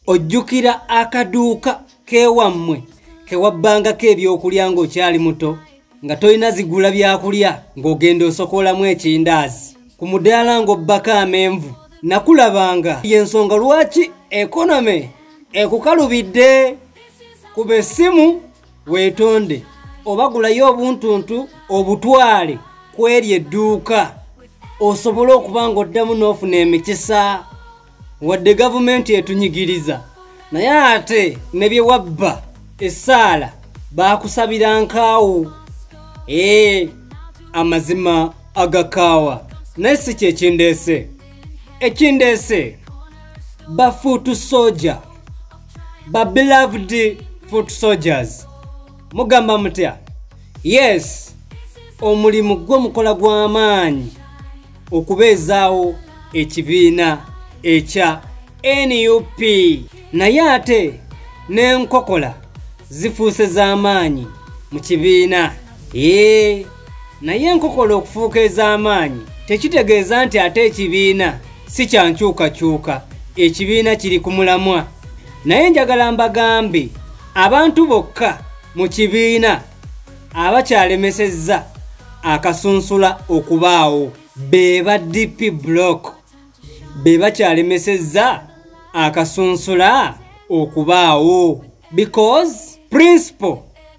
ojjukira akaduuka kewammwe kewabbangako ebyokulya ng'okyali muto nga tolina zigula byakulya ng'ogenda osokolamu ekindaazi ku mudaala ng'obbako amenvu nakulabanga yensonga lwaki ekonome ekukalubidde kuba essimu weetonde oba gulayo obuntuntu obutwale kweri edduuka osobole okuba ng'oddamu n'ofuna emikisa wadde gavumenti etunyigiriza naye ate ne bye wabba essaala baakusabira nkaawo ee amazima agakaawa naye si kyekindeese ekindeese bafuutu soja ba beloved foot soldiers mugamba mutya yes omulimu gwo mukola gw'amaanyi okubeezaawo ekibiina ekya nup naye ate n'enkokola zifuuse z'amaanyi mu kibiina ee naye enkokola okufuuka ez'amaanyi tekitegeeza nti ate ekibiina si kya nkyukakyuka ekibiina kiri ku mulamwa naye njagala mbagambe abantu bokka mu kibiina abakyalemesezza akasunsula okubaawo beba dp block be bakyalemesezza akasunsula okubaawo because principal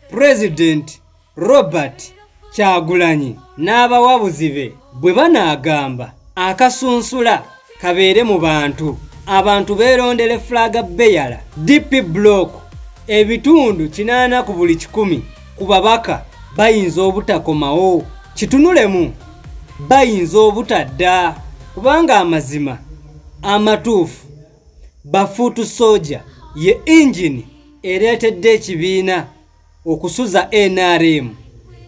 president robert kyagulanyi n'abawabuzi be bwe banaagamba akasunsula kabeere mu bantu abantu beerondere fulaga beyala dp block ebitundu kinaana ku buli kikumi ku babaka bayinza obutakomawo kitunulemu bayinza obutadda kubanga amazima amatuufu bafuutu soja ye ingini ereetedde ekibiina okusuza nrm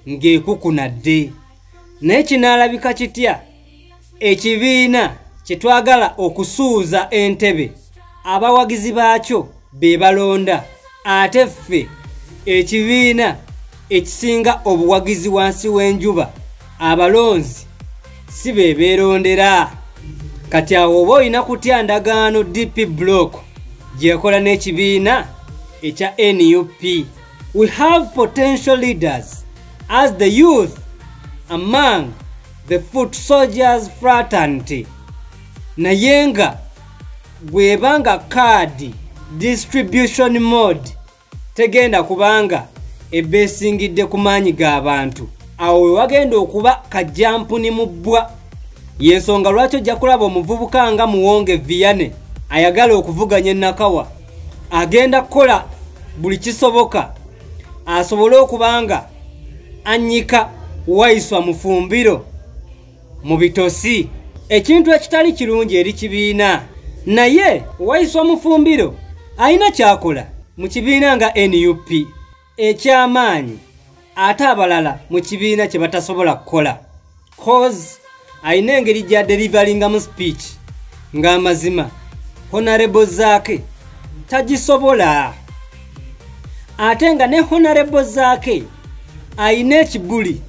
ng'ekukunadde naye kinaalabika kitya ekibiina kye twagala okusuuza entebe abawagizi baakyo be balonda ate ffe ekibiina ekisinga obuwagizi wansi w'enjuba abalonzi si be beerondera kati awo oba olina kutya ndagaano dp block gyekola n'ekibiina ekya nup we have potential leaders as the youth among the foot soldiers fraternity naye nga bweba nga kaadi distribution mode tegenda kubanga ebeesingidde ku maanyi g'abantu awo we wagenda okuba kajjampuni mu bbwa y'ensonga lwaki ojja kulaba omuvubuka nga muwonge viyane ayagala okuvuganya enakawa agenda kukola buli kisoboka asobole okuba nga annyika waiswa mufumbiro mu bitosi ekintu ekitali kirungi eri kibiina naye owayisa omufumbiro alina kyakola mu kibiina nga nup ekyamaanyi ate abalala mu kibiina kye batasobola kukola cause alina engeri gya delivaringamu speech ng'amazima honarebo zaake tagisobola ate nga ne honarebo zaake alina ekibuli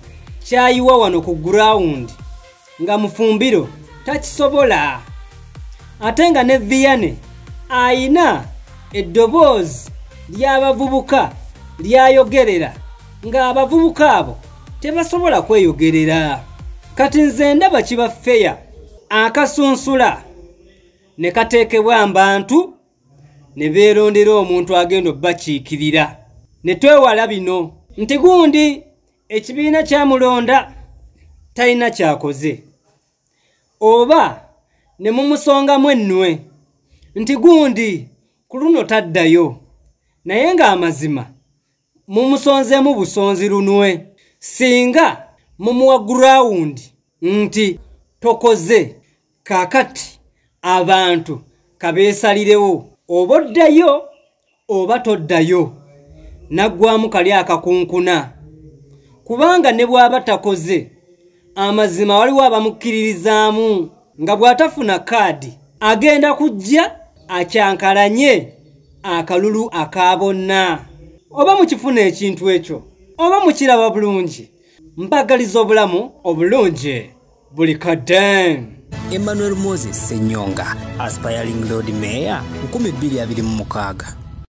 kyayiwa wano ku gurawundi nga mufumbiro takisobola ate nga ne viyane ayina eddoboozi ly'abavubuka lyayogerera ng'abavubuka abo tebasobola kweyogerera kati nze ndaba kiba feya akasunsula ne kateekebwa mbantu ne beerondera omuntu agenda obakiikirira ne twewala bino nti gundi ekibiina kyamulonda talina kyakoze oba ne mumusongamu ennwe nti gundi ku luno taddayo naye ng'amazima mumusonzeemu busonzi lunwe singa mumuwa gurawundi nti tokoze kakati abantu kabeesalirewo oba oddayo oba toddayo naggwamu kali akakunkuna kubanga ne bw'aba takoze amazima waliwo abamukkiririzaamu nga bw'atafuna kaadi agenda kujja akyankalanye akalulu aka bonna oba mukifuna ekintu ekyo oba mukiraba bulungi mbagaliza obulamu obulungi buli kadde emmanuel moses senyonga aspiring lord mayor 226